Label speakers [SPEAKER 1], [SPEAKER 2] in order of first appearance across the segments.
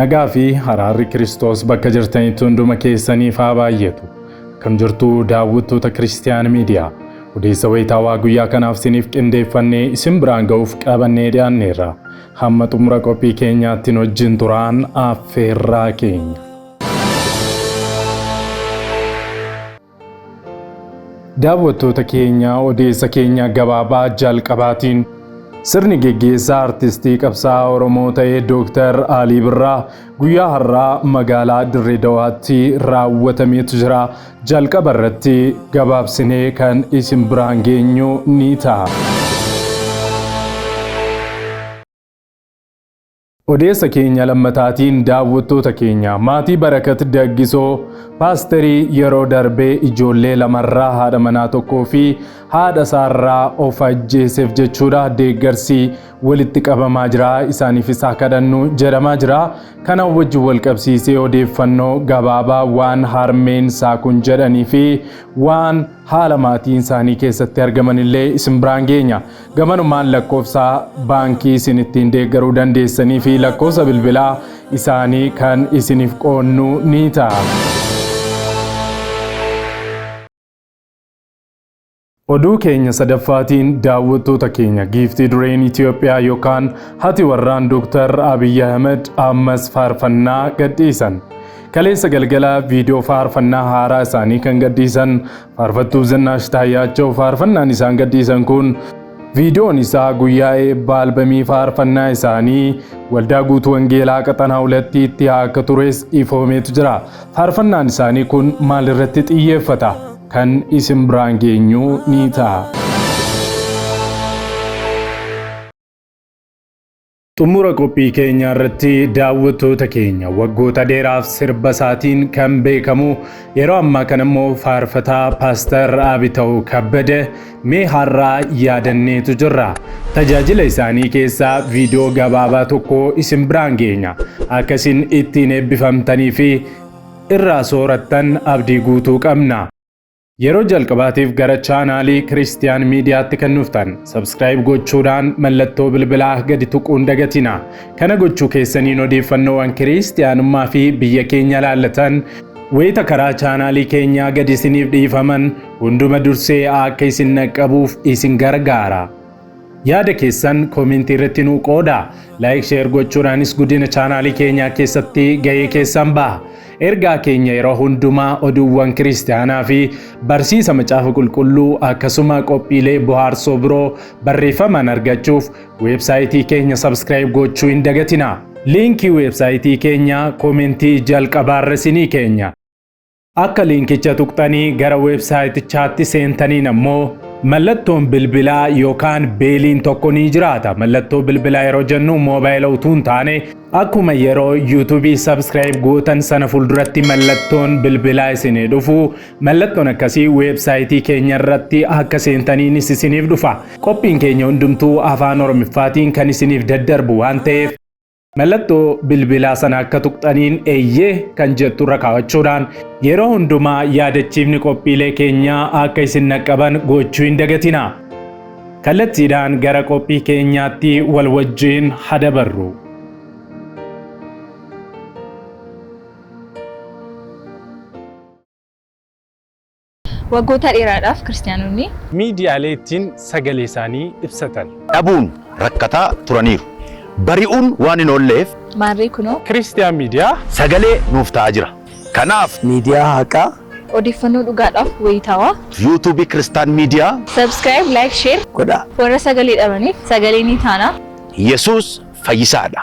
[SPEAKER 1] Nagaa fi haraarri Kiristoos bakka jirtanitti hunduma keessaniif haa baay'atu. Akkam jirtu daawwattoota Kiristiyaan Miidiyaa. Odeessa wayitaawaa guyyaa kanaaf isiniif qindeeffannee isin biraan ga'uuf qabannee dhiyaanneerra. Hamma xumura qophii keenyaatti nu wajjin turaan affeerraa keenya. Daawwattoota keenya odeessa keenya gabaabaa jalqabaatiin sirni geggeessaa artistii qabsaa Oromoo ta'e Dooktar Alii Birraa guyyaa har'aa magaalaa Dirree Dawaatti raawwatameetu jira. Jalqaba irratti gabaabsinee kan isin biraan geenyu ni ta'a. Odeessa keenya lammataatiin daawwattoota keenya maatii Barakat Daggisoo paasterii yeroo darbee ijoollee lamarraa haadha manaa tokkoo fi haadha isaarraa of ajjeeseef jechuudha deeggarsi walitti qabamaa jira isaaniif isaa kadhannu jedhamaa jira kana wajjin wal qabsiisee odeeffannoo gabaabaa waan harmeen isaa kun jedhanii fi waan haala maatiin isaanii keessatti argamanillee isin biraan geenya. Gamanumaan lakkoofsa baankii isin ittiin deeggaruu dandeessanii fi lakkoofsa bilbilaa isaanii kan isiniif qoodnu ni ta'a. Oduu keenya sadaffaatiin daawwattoota keenya giiftii dureen Itoophiyaa yookaan hati warraan Dooktar Abiyyi Ahmed ammas faarfannaa gadhiisan. Kaleessa galgala viidiyoo faarfannaa haaraa isaanii kan gadhiisan Faarfattuu Zinnaash Taayyaachaw faarfannaan isaan gadhiisan kun viidiyoon isaa guyyaa eebbaa albamii faarfannaa isaanii waldaa guutuu wangeelaa qaxanaa hulattii itti haa akka tures ifoomeetu jira. Faarfannaan isaanii kun maal irratti xiyyeeffata? Kan isin biraan geenyu ni ta'a. Xumura qophii keenyaa irratti daawwattoota keenya waggoota dheeraaf sirba isaatiin kan beekamu yeroo ammaa kana immoo faarfataa Paastar Abitaw Kabbada mee har'aa yaadanneetu jirra. Tajaajila isaanii keessaa viidiyoo gabaabaa tokko isin biraan geenya. Akka isin ittiin eebbifamtanii fi irraa soorattan abdii guutuu qabna. Yeroo jalqabaatiif gara chaanaalii Kiristiyaan Miidiyaatti kan dhuftan sabskiraayib gochuudhaan mallattoo bilbilaa gadi tuquun dagatina. Kana gochuu keessaniin odeeffannoowwan Kiristiyaanummaa fi biyya keenya ilaallatan wayita karaa chaanaalii keenyaa gadi isiniif dhiifaman hunduma dursee akka isin dhaqqabuuf isin gargaara. Yaada keessan koomentii irratti nuu qoodaa. Like share gochuudhaanis guddina chaanaalii keenyaa keessatti gahee keessan baha. Ergaa keenya yeroo hundumaa oduuwwan kiristaanaa fi barsiisa macaafa qulqulluu akkasuma qophiilee bohaarsoo biroo barreeffamaan argachuuf weebsaayitii keenya sabskiraayib gochuu hin dagatina. Liinkii weebsaayitii keenyaa koomentii jalqabaarra isinii keenya. Akka liinkicha tuqxanii gara weebsaayitichaatti seentaniin ammoo mallattoon bilbilaa yookaan beeliin tokko ni jiraata. Mallattoo bilbilaa yeroo jennu moobaayila utuu hin taane akkuma yeroo yuutuubii sabskiraayib gootan sana fuulduratti mallattoon bilbilaa isinii dhufu mallattoon akkasii weebsaayitii keenya irratti akka seentaniinis isiniif dhufa. Qophiin keenya hundumtuu afaan Oromiffaatiin kan isiniif daddarbu waan ta'eef Mallattoo bilbilaa sana akka tuqxaniin eeyyee kan jettu irra kaa'achuudhaan yeroo hundumaa yaadachiifni qophiilee keenyaa akka isin naqqaban gochuu hin dagatina. Kallattiidhaan gara qophii keenyaatti wal wajjiin hadabarru.
[SPEAKER 2] Waggoota dheeraadhaaf Kiristiyaanonni. miidiyaalee ittiin
[SPEAKER 1] sagalee isaanii ibsatan. dhabuun
[SPEAKER 3] rakkataa turaniiru. Bari'uun waan hin oolleef.
[SPEAKER 2] Maarree
[SPEAKER 3] kunoo. Kiristiyaan Miidiyaa.
[SPEAKER 1] sagalee
[SPEAKER 2] nuuf
[SPEAKER 3] ta'aa jira. Kanaaf. miidiyaa haqaa.
[SPEAKER 4] odeeffannoo
[SPEAKER 2] dhugaadhaaf wayitaawaa. YouTube Kiristaan
[SPEAKER 3] Miidiyaa. Subscribe, Like,
[SPEAKER 2] Share. godhaa. Warra sagalee
[SPEAKER 4] dhabaniif
[SPEAKER 2] sagalee ni taana. Yesuus
[SPEAKER 3] fayyisaa dha.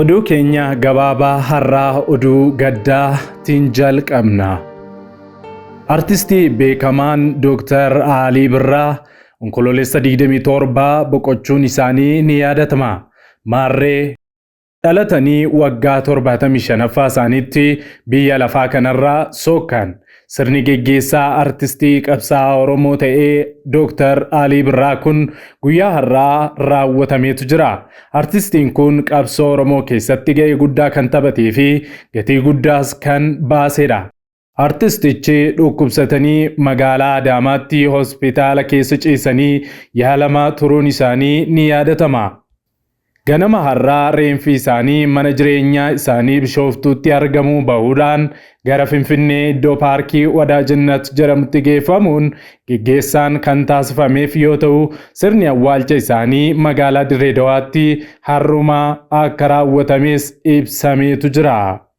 [SPEAKER 1] Oduu keenya gabaabaa har'aa oduu gaddaatiin jalqabna. Artistii beekamaan Dooktar Alii Birraa onkoloolessa 27 boqochuun isaanii ni yaadatama. Maarree Dhalatanii waggaa 75ffaa isaaniitti biyya lafaa kanarraa sookkaan sirni geggeessaa artistii qabsaa'aa Oromoo ta'ee Dooktar Alii Birraa kun guyyaa har'aa raawwatameetu jira. Artistiin kun qabsoo Oromoo keessatti ga'ee guddaa kan taphatee fi gatii guddaas kan baasedha. Artistichi dhukkubsatanii magaalaa Adaamaatti hospitaala keessa ciisanii yaalamaa turuun isaanii ni yaadatama. Ganama har'aa reenfi isaanii mana jireenyaa isaanii Bishooftuutti argamuu bahuudhaan gara Finfinnee iddoo paarkii Wadaajinat jedhamutti geeffamuun geggeessaan kan taasifameef yoo ta'u, sirni awwaalcha isaanii magaalaa Dirree Dawaatti har'uma akka raawwatames ibsameetu jira.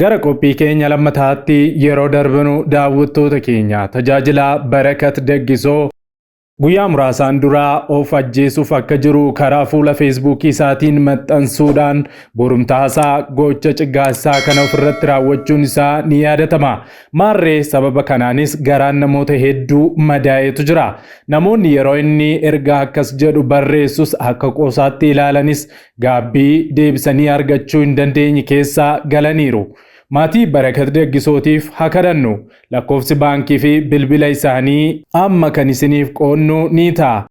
[SPEAKER 1] Gara qophii keenya lammataatti yeroo darbinu daawwattoota keenya tajaajilaa Barakat Daggisoo guyyaa muraasaan duraa of ajjeesuuf akka jiru karaa fuula feesbuukii isaatiin maxxansuudhaan borumtaasaa gocha ciggaasaa kana ofirratti raawwachuun isaa ni yaadatama. Maarree sababa kanaanis garaan namoota hedduu madaa'etu jira. Namoonni yeroo inni ergaa akkas jedhu barreessus akka qoosaatti ilaalanis gaabbii deebisanii argachuu hin dandeenye keessa galaniiru. Maatii Barakat Daggisootiif ha kadhannu. Lakkoofsi baankii fi bilbila isaanii amma kan isiniif qoodnu ni ta'a.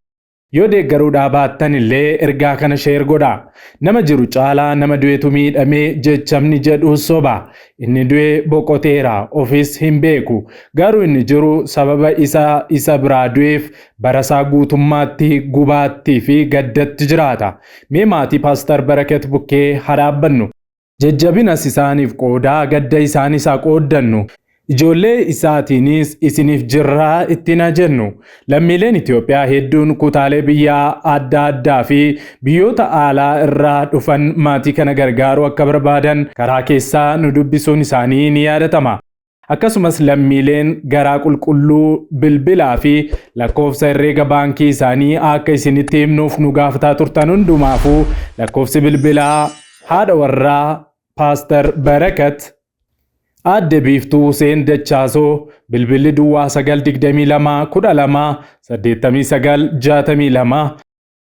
[SPEAKER 1] Yoo deeggaruudhaa baattan illee ergaa kana share godhaa. Nama jiru caalaa nama du'etu miidhame jechamni jedhu soba. Inni du'e boqoteera, ofis hin beeku. Garuu inni jiru sababa isa isa biraa du'eef barasaa guutummaatti gubaattii fi gaddatti jiraata. Mee maatii Paastar Barakat bukkee haa dhaabbannu. Jajjabinas isaaniif qoodaa, gadda isaanis haa qooddannu. Ijoollee isaatiinis isiniif jirra ittiin haa jennu. Lammiileen Itoophiyaa hedduun kutaalee biyyaa adda addaa fi biyyoota aalaa irraa dhufan maatii kana gargaaruu akka barbaadan karaa keessaa nu dubbisuun isaanii ni yaadatama. Akkasumas lammiileen garaa qulqulluu bilbilaa fi lakkoofsa herreega baankii isaanii akka isinitti himnuuf nu gaafataa turtan hundumaafuu lakkoofsi bilbilaa haadha warraa Paastar Barakat Aadde Biiftuu Huseen Dachaasoo bilbilli duwwaa 922 12 89 62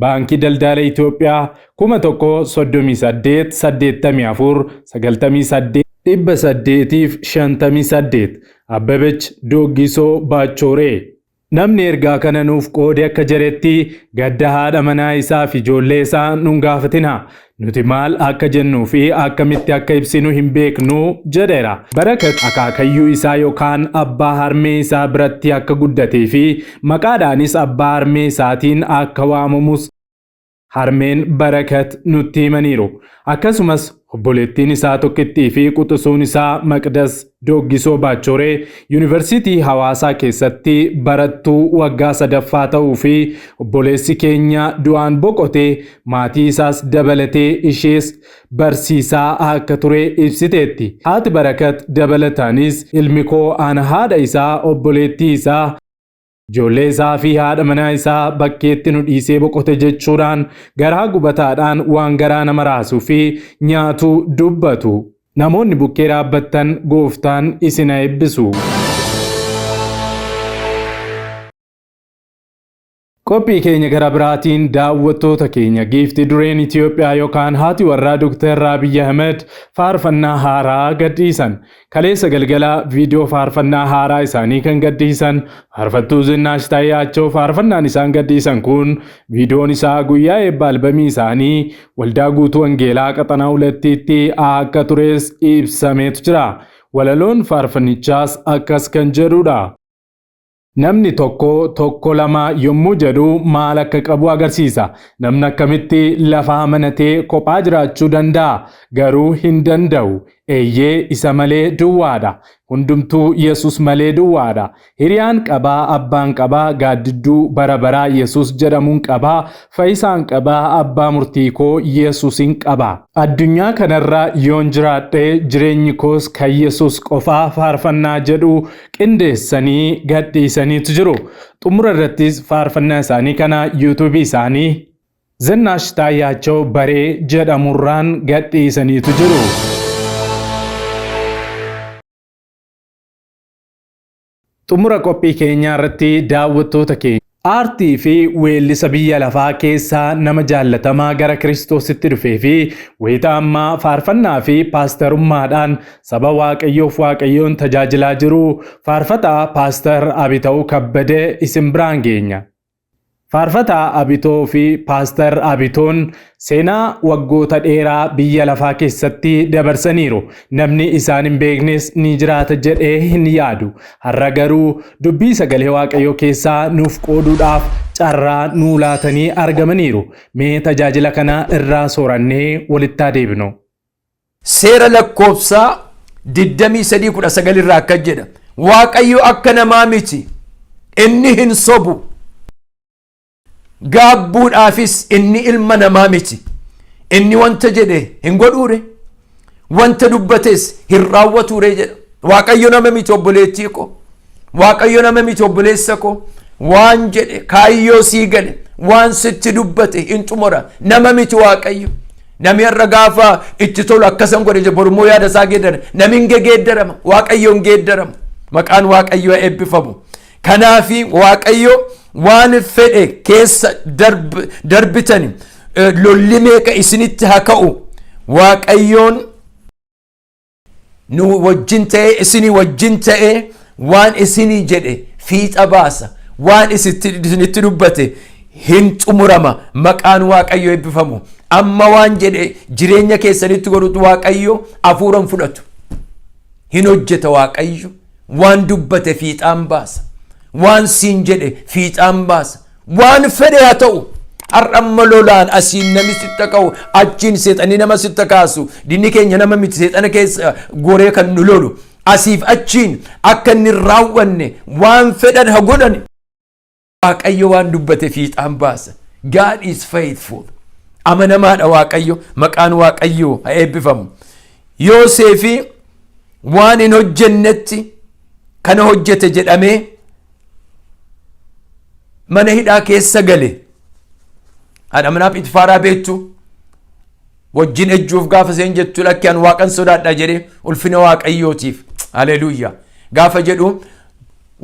[SPEAKER 1] Baankii Daldaala Itoophiyaa 138849858 Abbebech Dooggisoo Baachooree. Namni ergaa kana nuuf qoode akka jedhetti, gadda haadha manaa isaa fi ijoollee isaa nun gaafatinaa. Nuti maal akka jennuu fi akkamitti akka ibsinu hin beeknu, jedheera. Barakat akaakayyuu isaa yookaan abbaa harmee isaa biratti akka guddatee fi maqaadhaanis abbaa harmee isaatiin akka waamamus harmeen Barakat nutti himaniiru. Akkasumas, obboleettiin isaa tokkittii fi quxusuun isaa Maqdas Dooggisoo Baachooree Yuunivarsiitii Hawaasaa keessatti barattuu waggaa sadaffaa ta'uu fi obboleessi keenya du'aan boqote maatii isaas dabalatee ishees barsiisaa akka ture ibsiteetti. Haati Barakat dabalataanis ilmi koo ana haadha isaa obboleettii isaa Ijoollee isaa fi haadha manaa isaa bakkeetti nu dhiisee boqote jechuudhaan garaa gubataadhaan waan garaa nama raasuu fi nyaatu dubbatu. Namoonni bukkee dhaabbattan gooftaan isin haa eebbisu. Qophii keenya gara biraatiin daawwattoota keenya giifti dureen Itoophiyaa yookaan haati warraa Dr. Abiy Ahmed faarfannaa haaraa gadhiisan. Kaleessa galgala viidiyoo faarfannaa haaraa isaanii kan gadhiisan faarfattuu Zinnaash Taayaachoo faarfannaan isaan gadhiisan kun viidiyoon isaa guyyaa eebba albamii isaanii waldaa guutuu wangeelaa qaxanaa hulattiitti akka tures ibsameetu jira. Walaloon faarfannichaas akkas kan jedhudha. Namni tokko tokko lama yommuu jedhu maal akka qabu agarsiisa. Namni akkamitti lafa amanatee kophaa jiraachuu danda'a? Garuu hin danda'u. Eeyyee, isa malee duwwaadha. Hundumtuu Yesus malee duwwaadha. Hiriyaan qaba, abbaan qaba, gaaddidduu bara baraa Yesus jedhamuun qaba, fayyisaan qaba, abbaa murtii koo Yesusin qaba. Addunyaa kanarra yoon jiraadhe jireenyi koos kan Yesus qofaa faarfannaa jedhu qindeessanii gadhiisaniitu jiru. Xumura irrattis faarfannaa isaanii kana yuutuubii isaanii Zinnaash Taayyaachaw Baree jedhamurraan gadhiisaniitu jiru. Xumura qophii keenyaa irratti daawwattoota keenya. Aartii fi weellisa biyya lafaa keessaa nama jaallatamaa gara Kiristoositti dhufee fi wayita ammaa faarfannaa fi paastarummaadhaan saba Waaqayyoof Waaqayyoon tajaajilaa jiru Faarfataa Paastar Abitaw Kabbade isin biraan geenya. Faarfataa Abitoo fi Paastar Abitoon Seenaa waggoota dheeraa biyya lafaa keessatti dabarsaniiru. Namni isaan hin beeknes ni jiraata jedhee hin yaadu. Har'a garuu dubbii sagalee Waaqayyoo keessaa nuuf qooduudhaaf carraa nuu laatanii argamaniiru. Mee tajaajila kana irraa soorannee walitti haa deebinu. Seera
[SPEAKER 4] Lakkoofsaa 23:19 irraa akkas jedha. Waaqayyo akka namaa miti, inni hin sobu. gaabbuudhaafis inni ilma namaa miti inni wanta jedhe hin godhuure wanta dubbates hin raawwatuure jedha waaqayyo nama miti obboleettii koo waaqayyo nama miti obboleessa koo waan jedhe kaayyoo sii gale waan sitti dubbate hin xumura nama miti waaqayyo nami har'a gaafa itti tolu akkasan godhe jedhe borummoo yaada isaa geeddara nami hin geeddarama waaqayyo hin geeddaramu maqaan waaqayyoo eebbifamu Kanaaf Waaqayyo waan fedhe keessa darbitani lolli meeqa isinitti haa ka'u Waaqayyoon nu wajjin ta'e isinii wajjin ta'e waan isinii jedhe fiixa baasa waan isinitti dubbate hin xumurama maqaan waaqayyo eebbifamu amma waan jedhe jireenya keessanitti godhutu waaqayyo hafuuran fudhatu hin hojjeta waaqayyo Waan dubbate fiixaan baasa. Waan siin jedhe fiixaan baasa. Waan fedhe haa ta'u. Har'a amma lolaan asiin namni sitta ka'u achiin seexanni nama sitta kaasu dinni keenya nama miti seexana keessa goree kan nu lolu asiif achiin akka inni hin raawwanne waan fedhan ha godhan Waaqayyo waan dubbate fiixaan baasa. God is faithful. Amanamaadha Waaqayyo. Maqaan Waaqayyoo haa eebbifamu. Yooseefi waan hin hojjennetti kana hojjete jedhamee mana hidhaa keessa gale. Haadha manaa Phiixifaaraa beektu wajjin ejjuuf gaafa seen jettu lakki an waaqan sodaadha jedhe ulfina waaqayyootiif haleluuya gaafa jedhu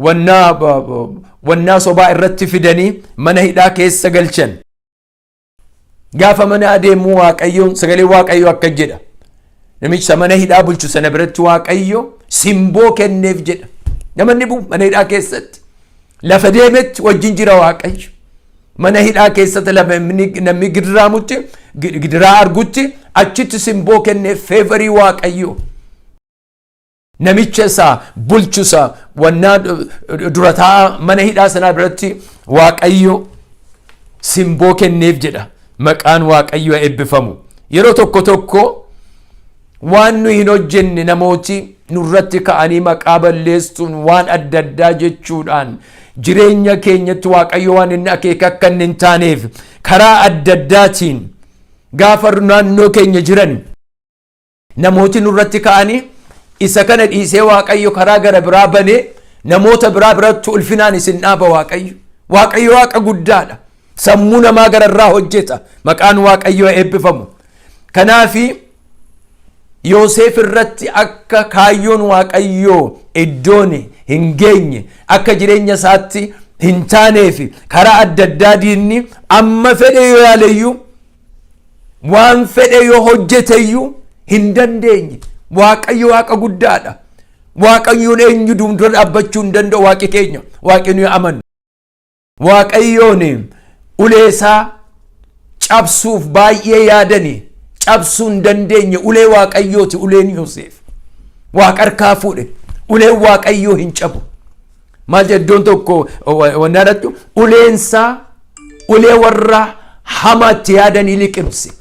[SPEAKER 4] wannaa ba- ba- wannaa sobaa irratti fidanii mana hidhaa keessa galchan gaafa mana adeemu waaqayyoon sagalee waaqayyoo akka jedha namicha mana hidhaa bulchu sana biratti waaqayyo simboo kenneef jedha namanni bu mana hidhaa keessatti lafa deemetti wajjin jira waaqayyo Mana hidhaa keessatti lamni- namni gidiraamutti gi- gidiraa argutti achitti simboo kennee feevarii waaqayyoo namicha isaa bulchu isaa wannaa du- du- dura taa'aa mana hidhaa sanaa biratti waaqayyo simboo kenneef jedha maqaan waaqayyoo eebbifamu yeroo tokko tokko Waan nuyi hin hojjenne namooti nurratti ka'anii maqaa balleessuun waan adda addaa jechuudhaan jireenya keenyatti Waaqayyo waan inni akeeke akka inni hin taaneef karaa adda addaatiin gaafa naannoo keenya jiran namooti nurratti ka'anii isa kana dhiisee Waaqayyo karaa gara biraa banee namoota biraa biratti ulfinaan isin dhaaba Waaqayyo. Waaqayyo Waaqa guddaadha. Sammuu namaa gararraa hojjeta. Maqaan Waaqayyoo eebbifamu. Kanaaf Yooseef irratti akka kaayyoon Waaqayyoo iddoon hin geenye akka jireenya isaatti hin taanee fi karaa adda addaa diinni amma fedhe yoo yaaleyyuu waan fedhe yoo hojjeteyyuu hin dandeenye. Waaqayyo waaqa guddaadha. Waaqayyoon eenyu duundura dhaabbachuu hin danda'u waaqi keenya waaqi nuyi amannu. Waaqayyoon uleesaa cabsuuf baay'ee yaadani cabsuu hin dandeenye ulee waaqayyooti uleen Yoseef waaqa harkaa fuudhe uleen waaqayyoo hin cabu maal jedha iddoon tokko wanna irratti uleensaa ulee warra hamaatti yaadanii liqimse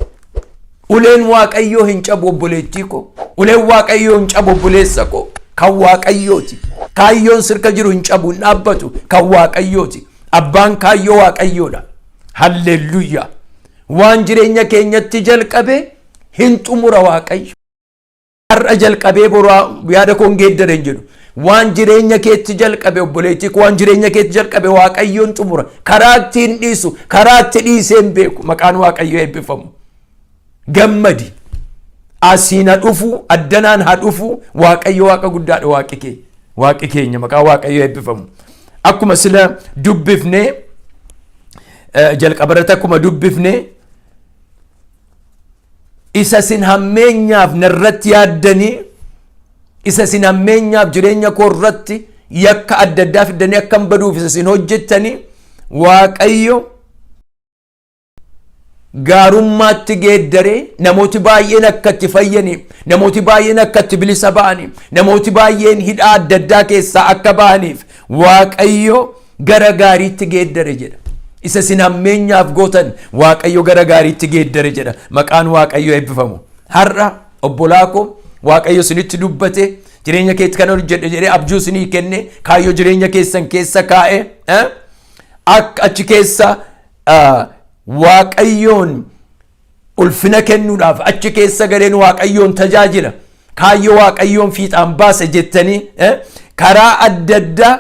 [SPEAKER 4] Uleen Waaqayyoo hin cabu obboleettii koo. Uleen Waaqayyoo hin cabu obboleessa koo. Kan Waaqayyooti. Kaayyoon sirka jiru hin cabu hin dhaabbatu. Kan Waaqayyooti. Abbaan kaayyoo Waaqayyoodha. Halleelluyyaa. Waan jireenya keenyatti jalqabe hin xumura Waaqayyo. har'a jalqabee boru yaada koon geeddare hin jedhu. Waan jireenya keetti jalqabe obboleettii koo waan jireenya keetti jalqabe waaqayyoon xumura. Karaa itti hin dhiisu, karaa itti dhiisee hin beeku. Maqaan waaqayyoo eebbifamu. Gammadi. Asiin ha dhufu, addanaan ha dhufu, waaqayyo waaqa guddaadha waaqi kee. Waaqi keenya maqaa waaqayyoo eebbifamu. Akkuma sila dubbifne jalqabarratti akkuma dubbifne Isa isin hammeenyaaf na irratti yaaddanii, isa isin hammeenyaaf jireenya koo irratti yakka adda addaa fiddanii akkan baduuf isa isin hojjettanii, Waaqayyo gaarummaatti geeddaree namooti baay'een akka itti fayyanii, namooti baay'een akka itti bilisa ba'anii, namooti baay'een hidhaa adda addaa keessaa akka ba'aniif Waaqayyo gara gaariitti geeddare jedha. Isa isin hammeenyaaf gootan Waaqayyo gara gaariitti geeddare jedha. Maqaan Waaqayyo eebbifamu. Har'a obbolaa koo Waaqayyo isinitti dubbate jireenya keetti kan hojjedhe jedhee abjuu isinii kenne kaayyoo jireenya keessan keessa kaa'e eh? akka achi keessa ah, Waaqayyoon ulfina kennuudhaaf achi keessa galeen waaqayyoon tajaajila kaayyoo waaqayyoon fiixaan baasa jettanii eh, karaa adda addaa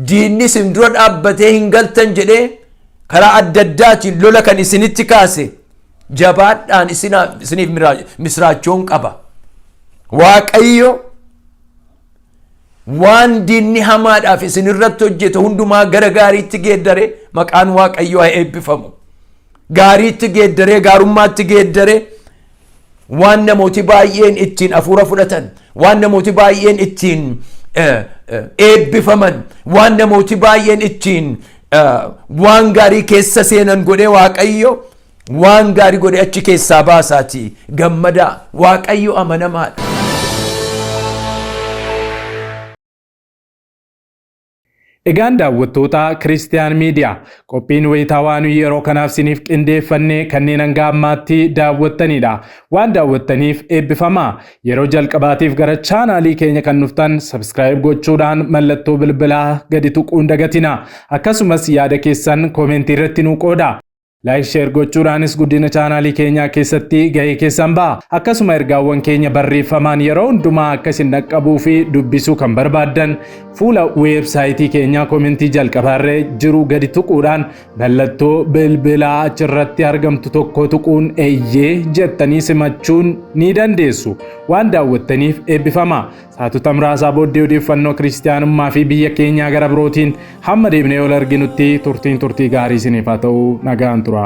[SPEAKER 4] diinni isin dura dhaabbatee hin galtan jedhee karaa adda addaatiin lola kan isinitti kaase jabaadhaan isinaa- isiniif miraa- misraachoon qaba. Waaqayyo waan diinni hamaadhaaf isin irratti hojjete hundumaa gara gaariitti geeddare maqaan Waaqayyoo haa eebbifamu. Gaariitti geeddaree gaarummaatti geeddaree waan namooti baay'een ittiin hafuura fudhatan, waan namooti baay'een ittiin eh, eh, eebbifaman, waan namooti baay'een ittiin eh, waan gaarii keessa seenan godhee Waaqayyo waan gaarii godhee achi keessaa baasaati gammadaa Waaqayyo amanamaadha.
[SPEAKER 1] Egaan daawwattoota Kiristiyaan Miidiyaa qophiin wayitaawaa nuyi yeroo kanaaf siniif qindeeffannee kanneen hanga ammaatti daawwattaniidha. Waan daawwattaniif eebbifamaa. Yeroo jalqabaatiif gara chaanaalii keenya kan dhuftan sabiskiraayib gochuudhaan mallattoo bilbilaa gadi tuquun dagatina. Akkasumas yaada keessan koomentii irratti nuu qooda. Like share gochuudhaanis guddina chaanaalii keenyaa keessatti gahee keessan ba'a. Akkasuma ergaawwan keenya barreeffamaan yeroo hundumaa akka isin dhaqqabuu fi dubbisuu kan barbaaddan fuula weebsaayitii keenyaa komentii jalqabaarra jiru gadi tuquudhaan mallattoo bilbilaa achirratti argamtu tokko tuquun eeyyee jettanii simachuun ni dandeessu. Waan daawwattaniif eebbifama. Saatota muraasaa booddee odeeffannoo kiristiyaanummaa fi biyya keenyaa gara birootiin hamma deebinee ol arginutti turtiin turtii gaarii isiniif haa ta'u nagaan tura.